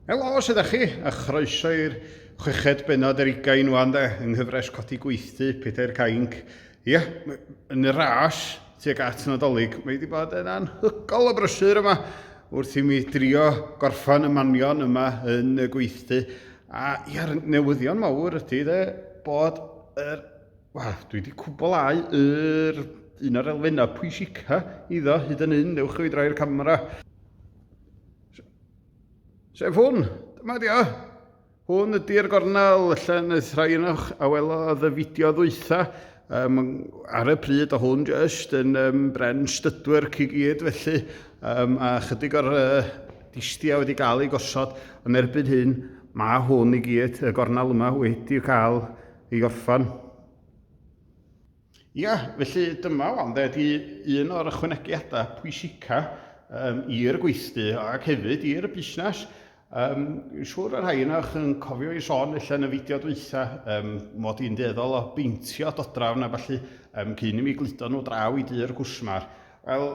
Helo, sydd â chi, a chroeso i'r chweched benod yr ugain wan de, yng nghyfres codi gweithdy Pedair Cainc. Ie, yn y ras, tuag at Nadolig, mae wedi bod yn anhygol o brysur yma wrth i mi drio gorffan y manion yma yn y gweithdy. A ia'r newyddion mawr ydy de, bod yr... Wel, dwi wedi cwblhau yr un o'r elfennau pwysica iddo hyd yn hyn, ewch i droi'r camera. Sef hwn, dyma di o. Hwn ydy'r gornel allan y thraenwch a welodd y fideo ddwytha. Um, ar y pryd o hwn jyst yn um, bren stydwyr i gyd felly um, a chydig o'r uh, distia wedi cael ei gosod yn erbyn hyn mae hwn i gyd y gornel yma wedi cael ei orffan. Ia, felly dyma wan de, di un o'r ychwanegiadau pwysica um, i'r gweithdy ac hefyd i'r busnes. Um, siwr y rhai yna yn cofio i sôn allan y fideo dweitha um, mod i'n deddol o beintio dodrafn a falle um, cyn i mi gludo nhw draw i dy'r gwsmar. Wel,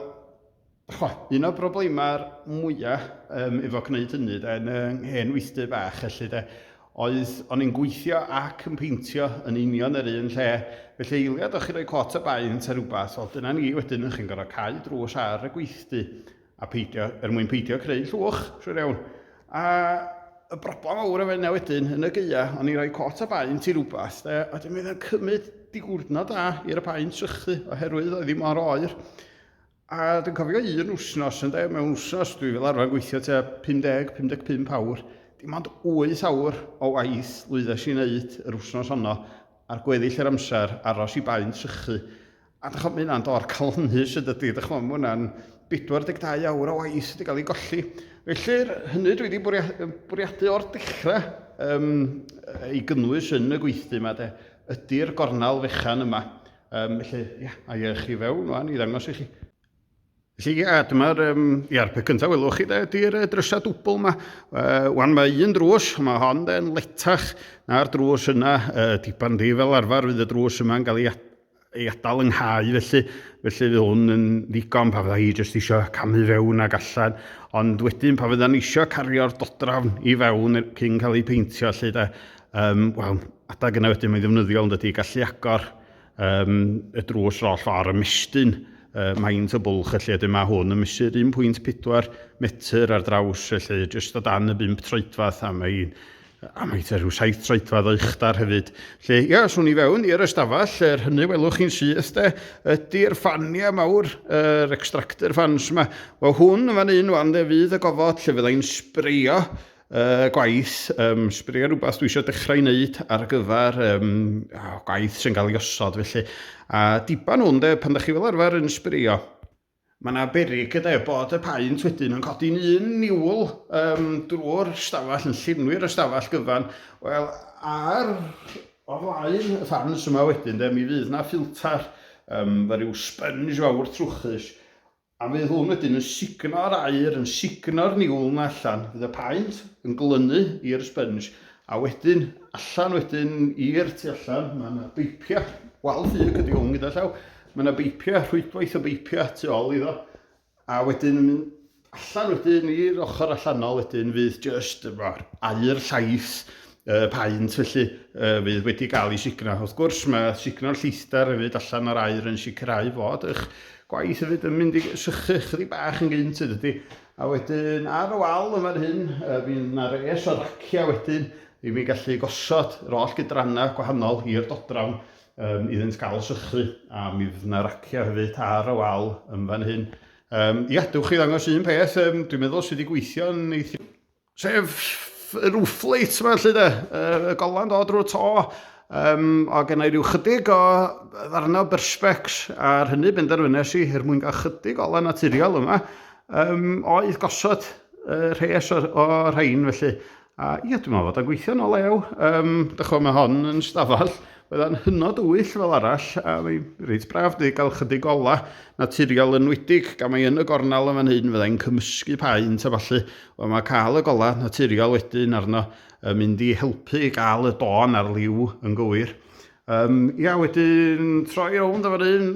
Chimod, un o'r broblemau mwya yym efo gwneud hynny de, yn 'y hen weithdy bach felly de, oedd o'n i'n gweithio ac yn peintio yn union yr un lle, felly eiliad o'ch chi'n rhoi cot o baent a rhywbeth, wel dyna ni wedyn o'ch chi'n gorfod cau drws ar y gweithdy a peidio, er mwyn peidio creu llwch, siŵr iawn. A y broblem fawr efo hynna wedyn, yn y gaea, o'n i'n rhoi cot o baent i rhywbeth de, a wedyn mi oedd o'n cymryd diwrnod da i'r y paent sychu oherwydd oedd hi mor oer. A dwi'n cofio un wsnos ynde, mewn wsnos dwi fel arfer yn gweithio tua 50, 55 awr, dim ond 8 awr o waith lwyddes i wneud yr wsnos honno ar gweddill yr amser aros i baun trychu. A dych chymod, mae hynna'n dor calonnus yn dydy, dych chymod, mae hwnna'n 42 awr o waith wedi cael ei golli. Felly, hynny dwi wedi bwriadu, bwriadu o'r dechrau um, ei gynnwys yn y gweithdy yma, de, ydy'r gornel fechan yma Um, felly, ia, a i chi fewn rwan i ddangos i chi. Felly, ia, dyma'r, um, ia, pe cyntaf welwch chi, ydy'r drysau dwbl yma. Uh, wan, mae un drws, mae hon yn letach na'r drws yna, uh, diban di fel arfer, fydd y drws yma'n cael ei, ei adael yng nghau, felly, felly fydd hwn yn ddigon pa fydda i jyst eisiau camu fewn ac allan, ond wedyn pa fydda'n eisiau cario'r dodrafn i fewn cyn cael ei peintio, lle da, Um, Wel, adag yna wedyn mae'n ddefnyddiol yn dydy gallu agor um, y drws roll ffordd y mestyn uh, maint o bwlch felly ydym mae hwn yn mesur 1.4 metr ar draws felly jyst o dan y 5 troedfath a mae'n a mae te rhyw saith troedfadd o uchdar hefyd. Lle, ia, swn i fewn i'r ystafell, er hynny welwch chi'n syth de, ydy'r ffania mawr, yr er extractor fans yma. Wel hwn yn fan un wan de, fydd y gofod lle fyddai'n sbreio uh, gwaith, um, sbrio rhywbeth dwi eisiau dechrau i wneud ar gyfer um, gwaith sy'n cael ei osod felly. A diban hwn de, pan da chi fel arfer yn sbrio, mae yna berig yde bod y paent wedyn yn codi'n un niwl um, drwy'r stafell, yn llenwi'r ystafell gyfan. Wel, ar o flaen y fans yma wedyn de, mi fydd yna ffilter um, fe rhyw sponge fawr trwchus A fydd hwn wedyn yn sugno'r aer, yn sugno'r niwl 'na allan, fydd y paent yn glynu i'r sponge, a wedyn allan wedyn i'r tu allan, mae yna beipiau, wal ffug ydy hwn gyda llaw, mae yna beipiau, rhwydwaith o beipiau tu ôl iddo, a wedyn yn mynd allan wedyn i'r ochr allanol wedyn fydd just aer llaith y paent felly fydd wedi cael ei signo. Wrth gwrs mae signo'r llithder hefyd allan o'r air yn sicrhau fod eich gwaith hefyd yn mynd i sychu chydig bach yn gynt yn dydy. A wedyn ar y wal yn fan hyn, fi yna res o raciau wedyn i mi gallu gosod yr oll gydrannau gwahanol i'r dodrafn um, iddynt gael sychu a mi fydd yna raciau hefyd ar y wal yn fan hyn. Um, ia, dewch i ddangos un peth um, dwi'n meddwl sydd wedi gweithio'n eithaf Sef y roof light yma, lle de, y golan dod drwy'r to, um, o gen i ryw chydig o ddarnau berspecs ar hynny benderfynes i er mwyn gael chydig o lan naturiol yma, um, oedd gosod uh, rhes o'r, o rhain felly. A ia, dwi'n meddwl fod o'n gweithio'n o lew. Um, Dychwa mae hon yn stafell Oedd o'n hynod wyll fel arall, a mae reit braf di gael chydig ola naturiol yn wedig, gan mae yn y gornel yn fan hyn, fyddai'n cymysgu paent a falle, Wel, mae cael y golau naturiol wedyn arno yn mynd i helpu i gael y don a'r liw yn gywir. Um, ia, wedyn troi rownd o fan hyn,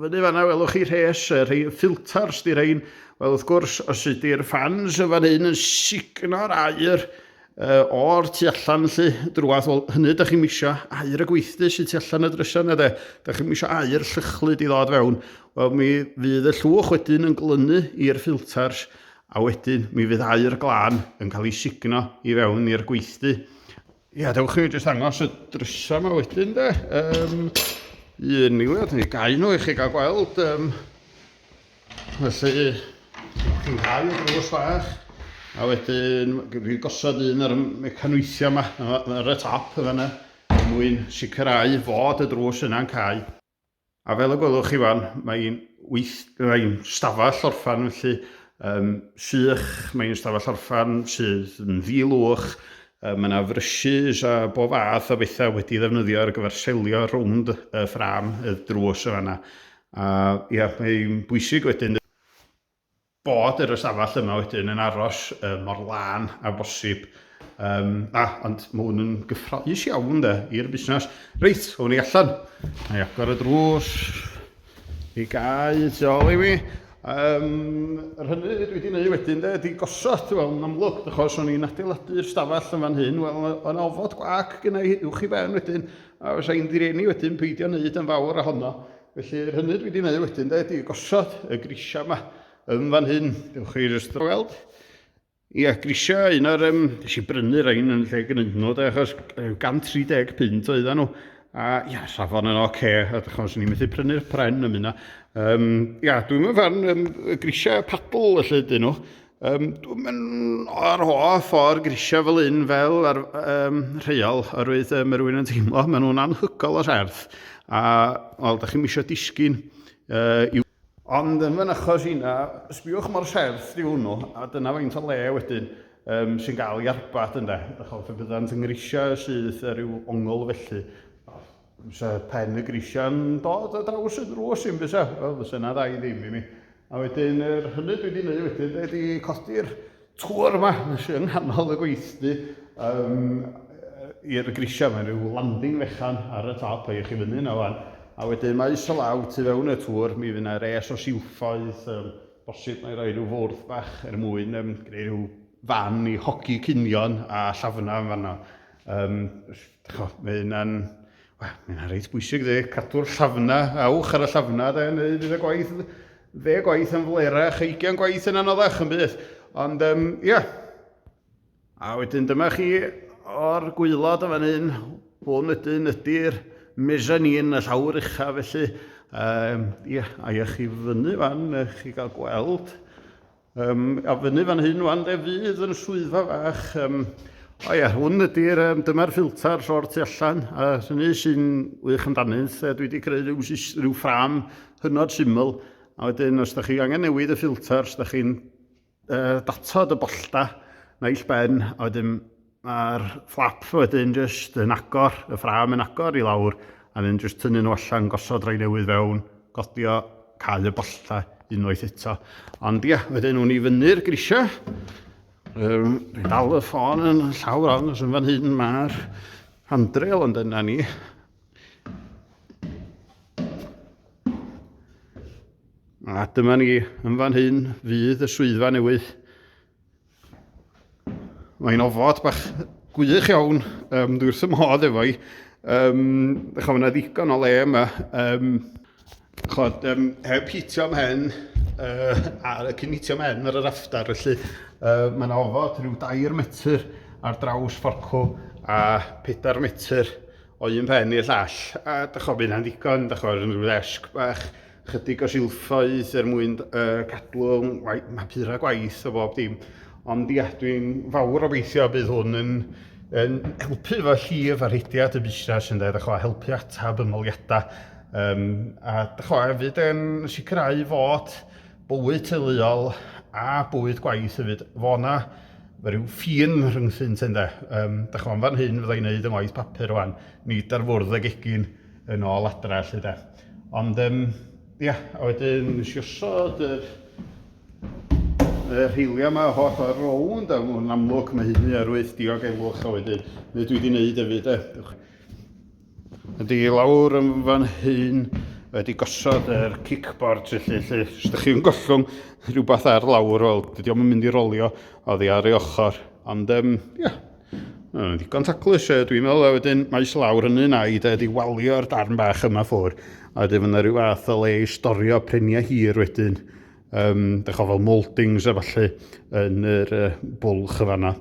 fyny fanna welwch chi rhes, y rhai ffilters di rhain. Wel, wrth gwrs, os ydy'r fans yn fan hyn yn signo'r air uh, o'r tu allan lly, drwath, wel, hynny ydych chi'n misio air y gweithdy sy'n tu allan y drysa yna, de. Ydych chi'n misio air llychlu di ddod fewn. Wel, mi fydd y llwch wedyn yn glynu i'r ffilters A wedyn mi fydd aer glân yn cael ei sugno i fewn i'r gweithdy. Ia, dewch i mi jyst angos y drysau yma wedyn de. Um, un miliad neu gau nhw i chi gael gweld. Um, felly, ti'n cael y drws fach. A wedyn, dwi'n gosod un ar y mecanweithiau yma, ar y top yna, er mwyn sicrhau fod y drws yna'n cael. A fel y gwelwch chi fan, mae hi'n weith... mae'n stafell orffan felly, um, sych, mae'n stafell orffan sydd yn ddi-lwch, um, mae yna frysys a bob fath o bethau wedi ddefnyddio ar gyfer selio rownd y ffram y drws y fanna. A ia, mae'n bwysig wedyn bod yr ystafell yma wedyn yn aros um, mor lân a bosib. Um, a, ond mae hwn yn gyffroes iawn de, i'r busnes. Reit, hwn ni allan. Mae i agor y drws. I gau tu ôl i mi. Um, yr hynny dwi wedi gwneud wedyn de, ydy gosod, wel, yn amlwg, achos o'n i'n adeiladu'r stafell yn fan hyn, wel, o'n ofod gwac gynnau uwch i ben wedyn, a fysa i'n direni wedyn peidio wneud yn fawr ohono. Felly, yr hynny dwi wedi gwneud wedyn, de, ydy gosod y grisiau yma yn fan hyn. Dewch chi jyst o weld. Ia, grisiau, un o'r... Um, nes i brynu rhain yn lle gynnu nhw, de, achos 130 pint oedd nhw. A ia, safon yn oce, okay, a dych chi'n ni'n methu prynu'r pren am hynna. Um, ia, dwi'n meddwl fan um, y grisiau padl, felly, dyn nhw. Um, dwi'n mynd ar hoa ffordd grisiau fel un fel ar, um, rheol, oherwydd um, rwy'n yn teimlo, maen nhw'n anhygol o serth. A, wel, da chi'n misio disgyn uh, i'w... Ond yn fy'n achos yna, sbiwch mor serth di hwnnw, a dyna faint o le wedyn um, sy'n gael ei arbat ynddo. Fe byddant yn grisiau sydd rhyw ongl felly. Fysa pen y grisiau'n dod a draws y drws i'n fysa, wel fysa yna ddau ddim i mi. A wedyn, yr hynny dwi wedi gwneud wedyn, dwi wedi codi'r tŵr yma sy'n yng nghanol y gweithdy um, i'r grisiau. Mae'n rhyw landing fechan ar y top, ei chi fyny yna fan. A wedyn mae is y law tu fewn y tŵr, mi fydd yna res o siwffoedd, um, bosib mae rhoi rhyw fwrdd bach er mwyn um, gwneud rhyw fan i hogi cynion a llafnau yn fanna. Um, cho, mae hynna'n... Wel, mae hynna'n reit bwysig, dde, cadw'r llafna, awch ar y llafna, dde, neu fydd y gwaith, dde gwaith yn flerach, eigian gwaith yn anoddach yn bydd. Ond, um, ia, a wedyn dyma chi o'r gwylod o fan hyn, hwn ydyn ydy'r mezzanine, y llawr ucha, felly, um, ia, a i chi fyny fan, chi gael gweld, Um, a fyny fan hyn wan de fydd yn swyddfa fach. Um, o ia, hwn ydy'r, um, dyma'r ffilter llor tu allan, a hynny sy'n wych amdanynt. E, dwi wedi creu rhyw, rhyw ffram hynod syml, a wedyn os da chi angen newid y ffilter, os da chi'n uh, datod y bollta naill ben, a wedyn Mae'r fflap wedyn jyst yn agor, y ffrâm yn agor i lawr a wedyn jyst tynnu nhw allan, gosod rhai newydd fewn, godio, cau y bollau unwaith eto. Ond ia, wedyn nhw'n i fyny'r grisiau. Um, Dwi'n dal y ffôn yn llawr ond os yn fan hyn mae'r handrail ond yna ni. A dyma ni, yn fan hyn fydd y swyddfa newydd. Mae'n ofod bach gwych iawn, um, dwi wrth y modd efo i. Um, Chwa, mae yna ddigon o le yma. Um, Chwa, um, heb hitio mhen, uh, a cyn hitio mhen ar yr aftar, felly uh, mae yna ofod rhyw dair metr ar draws fforcw a pedair metr o un pen i'r llall. A da chwa, bydd yna'n ddigon, da chwa, rhywun rhyw ddesg bach Chydig o silffoedd er mwyn uh, cadw mapura gwaith o bob dim. Ond ia, dwi'n fawr obeithio bydd hwn yn yn helpu fo llif a rhediad y busnes yn dweud, a helpu atab ymholiadau. Um, a chwa, hefyd yn sicrhau fod bywyd teuluol a bywyd gwaith hefyd, fo na fe rhyw ffin rhyngthynt yn de. Um, da chwa, fan hyn fydda i'n gwneud yn waith papur rwan, nid ar fwrdd ag egin yn ôl adra, lle de. Ond um, ia, a wedyn nes i osod yr y rheiliau yma holl o'r rownd, a yn amlwg mae hynny ar wyth diogelwch, a wedyn, neu dwi wedi wneud hefyd, e. Ydy lawr yn fan hyn, wedi gosod yr er kickboard felly, lle, os ydych chi'n gollwng rhywbeth ar lawr, wel, dydy o'n mynd i rolio oddi ar ei ochr, ond, um, ia, yeah. Mae'n ddigon taclus, e, dwi'n meddwl, a wedyn maes lawr yn un ai, de, di walio'r darn bach yma ffwr, a wedyn fyna rhyw fath o le i storio preniau hir wedyn, um, dych o fel mouldings a falle yn yr uh, bwlch y fanna.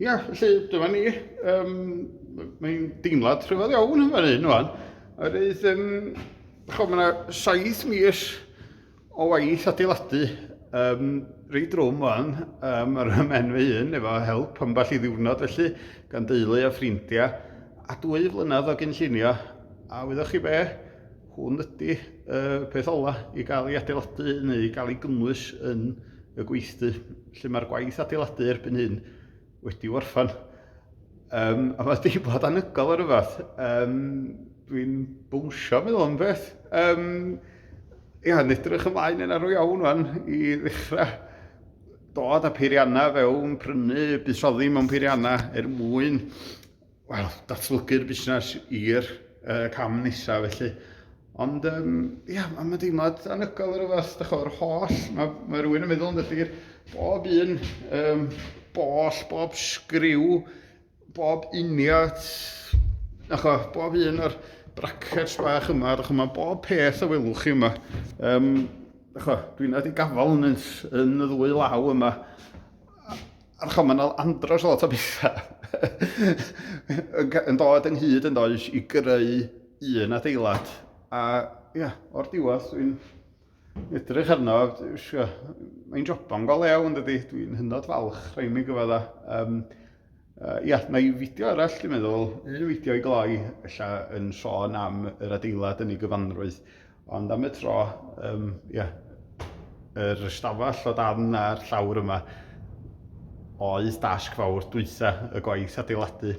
Ia, felly dyma ni, um, mae'n deimlad rhyfedd iawn yn fan hyn, wan. A rydych, um, chod, mae'na saith mis O waith adeiladu, um, rei drwm o'n, um, yr ymen fy hun, efo help ambell i ddiwrnod felly, gan deulu a ffrindiau, a dwy flynedd o gynllunio, a wyddoch chi be, hwn ydy uh, peth ola i gael ei adeiladu neu i gael ei gynnwys yn y gweithdy. Lle mae'r gwaith adeiladu erbyn hyn wedi orffan. Um, a mae deimlad anygol ar rhywbeth. Um, Dwi'n bwysio meddwl am beth. Um, ia, yn edrych ymlaen yn arw iawn fan i ddechrau dod â peiriannau fewn, prynu, buddsoddi mewn peiriannau er mwyn wel, datblygu'r busnes i'r uh, cam nesaf felly. Ond, um, ia, yeah, mae deimlad anygol ar y fath, da chwr, holl, mae, mae rhywun yn meddwl yn dyllu'r bob un, um, boll, bob sgriw, bob uniad, na cho, bob un o'r brackets bach yma, da chwr, mae bob peth o welwch chi yma. Um, da chwr, dwi'n nad i gafal yn, yn y ddwy law yma. A chymryd mae'n andros o lot o bethau yn dod yn hyd yn does i greu un adeilad. A ia, o'r diwedd dwi'n edrych arno, mae'n joban go lew yn dydy, dwi'n hynod falch rhaid mi gyfod a. Um, uh, ia, na i fideo arall dwi'n meddwl, un fideo i gloi, ella yn sôn am yr adeilad yn ei gyfanrwydd. Ond am y tro, um, yeah, yr ystafell o dan a'r llawr yma oedd dasg fawr dwytha y gwaith adeiladu.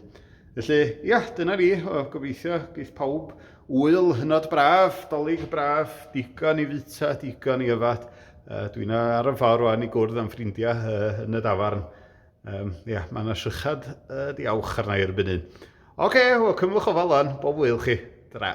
Felly, ia, dyna ni, o, gobeithio geith pawb wyl hynod braf, dolyg braf, digon i fita, digon i yfad. Uh, Dwi'n ar y ffordd rwan i gwrdd am ffrindiau uh, yn y dafarn. Um, ia, mae yna sychad uh, diawch arna i erbyn hyn. Oce, okay, wel, cymwch o falon, bob wyl chi. Dyna.